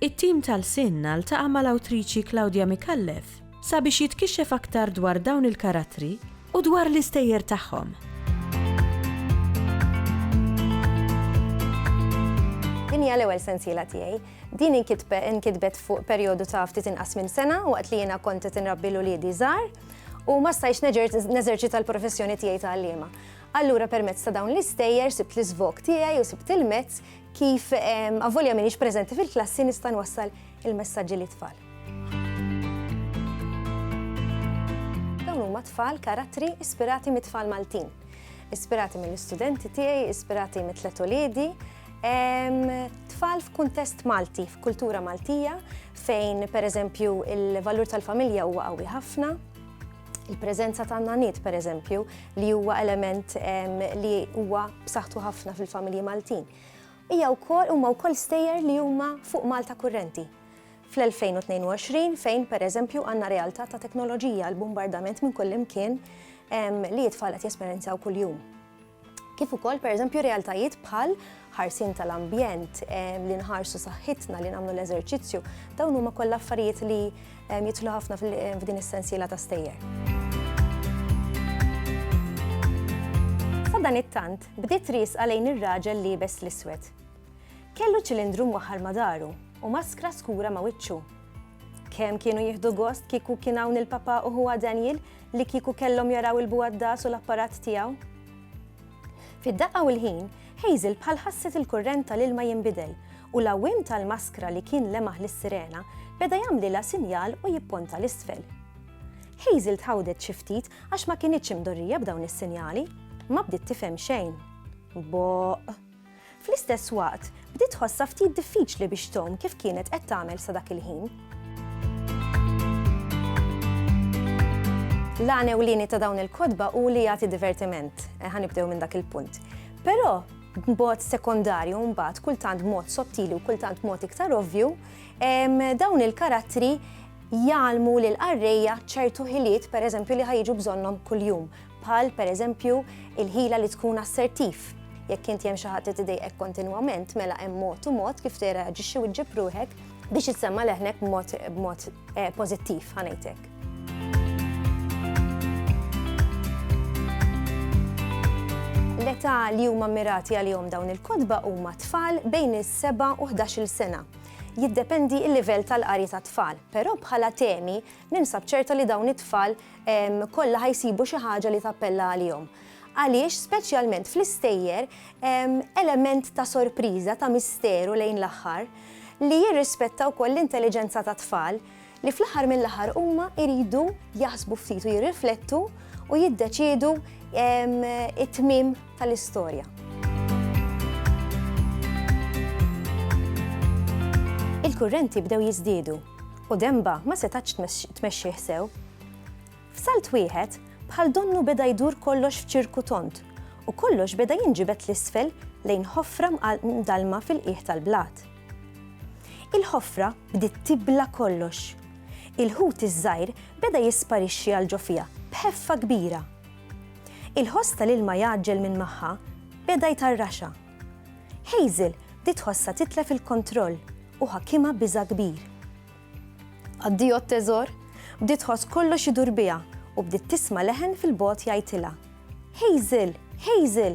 It-tim tal-SINNA ltaqa' mal-awtriċi Claudia Micallef sabiex jitkixxef aktar dwar dawn il-karattri u dwar l-istejjer tagħhom. Din hija l-ewwel sensiela tiegħi. Din inkitbet fuq perjodu ta' ftit inqas minn sena waqt li jiena kont qed inrabbi l uliedi żgħar u ma stajtx neżerċita l-professjoni tiegħi ta' għalliema. Allura permezz ta' dawn l-istejjer sibt l-iżvog tiegħi u sibt il-mezz Kif avolja m'iniex preżenti fil-klassi nista' nwassal il-messaġġi lit-tfal. Dawn huma tfal karattri ispirati mit-tfal Maltin. Ispirati mill-istudenti tiegħi, ispirati mit-tlet uliedi, tfal f'kuntest Malti, f'kultura Maltija, fejn pereżempju il-valur tal-familja huwa qawwi ħafna, Il-preżenza ta' nanit, per eżempju, li huwa element li huwa b'saħħtu ħafna fil-familji Maltin. Hija wkoll huma wkoll stejjer li huma fuq Malta kurrenti. Fl-2022 fejn per eżempju għandna realtà ta' teknoloġija l-bombardament minn kullimkien li jitfal qed jesperjenzaw kuljum. kif ukoll pereżempju realtajiet bħal ħarsien tal-ambjent, li nħarsu saħħitna, li nagħmlu l-eżerċizzju, dawn huma kollha affarijiet li jidħlu ħafna f'din is-sensiela ta' stejjer. Sadan it-tant, bdiet ris għalejn ir-raġel liebes l-iswed. Kellu ċilindru mwaħħar ma' daru u maskra skura ma' wiċċu. Kemm kienu jieħdu gost kieku kien hawn il-Papa u huwa Daniel li kieku kellhom jaraw il-buwaddas u l-apparat tiegħu. Fid-daqqa u l-ħin, Hazel bħal ħasset il-kurrent tal-ilma jinbidel u l-għawwiem tal-maskra li kien lemaħ lis-sirena beda jagħmlilha sinjal u jipponta l-isfel. Hazel tħawdet xi ftit għax ma kinitx imdorrija b'dawn is-sinjali, ma bdiet tifhem xejn. Boq! Fl-istess waqt, bdiet tħossha ftit diffiċli biex tgħum kif kienet qed tagħmel sa dak il-ħin. L-għan ewlieni ta' dawn il-kotba hu li jagħti divertiment, eh, ħanibdew minn dak il-punt. Però b'mod sekondarju mbagħad kultant mod sottili u kultant mod iktar ovvju, dawn il-karattri jgħalmu lil qarrejja ċertu ħiliet pereżempju li ħajġu bżonnhom kuljum. bħal, pereżempju, il-ħila li tkun assertiv. Jekk inti hemm xi ħadd li tidejqek kontinwament, mela hemm mod u mod kif tirreaġixxi u ġġib ruħek biex issemma' leħnek b'mod eh, pożittiv ħanejtek. L-età li huma mirati għalihom dawn il-kodba huma tfal bejn is-7 u 11-il sena jiddependi il-livell tal-qari ta' tfal, però bħala temi Ninsab ċerta li dawn it-tfal kollha ħajsibu xi ħaġa li tappella għalihom. Għaliex, speċjalment fl-istejjer, element ta' sorpriża, ta' misteru lejn l-aħħar, li jirrispetta wkoll l-intelliġenza ta' tfal li fl-aħħar mill-aħħar huma jridu jaħsbu ftit u jirriflettu u jiddeċiedu it-tmiem tal-istorja. Il-kurrenti bdew jiżdiedu u Demba ma setatx tmexxih sew. F'salt wieħed, bħal donnu beda jdur kollox f'ċirku tont u kollox beda jinġibet l-isfel lejn ħofra mdalma fil-qiegħ tal-blat. Il-ħofra bdiet tibla kollox. Il-ħut iż-żgħir beda jisparixxi għal ġo fiha b'ħeffa kbira. Il-ħoss tal-ilma jgħaġġel minn magħha beda jtarraxha. Hazel bdiet tħossha titlef il-kontroll u ħakimha biża' kbir. Addio t-teżor, bdiet tħoss kollox idur biha u bdiet tisma' leħen fil-bogħod jgħidilha, Hazel! Hazel!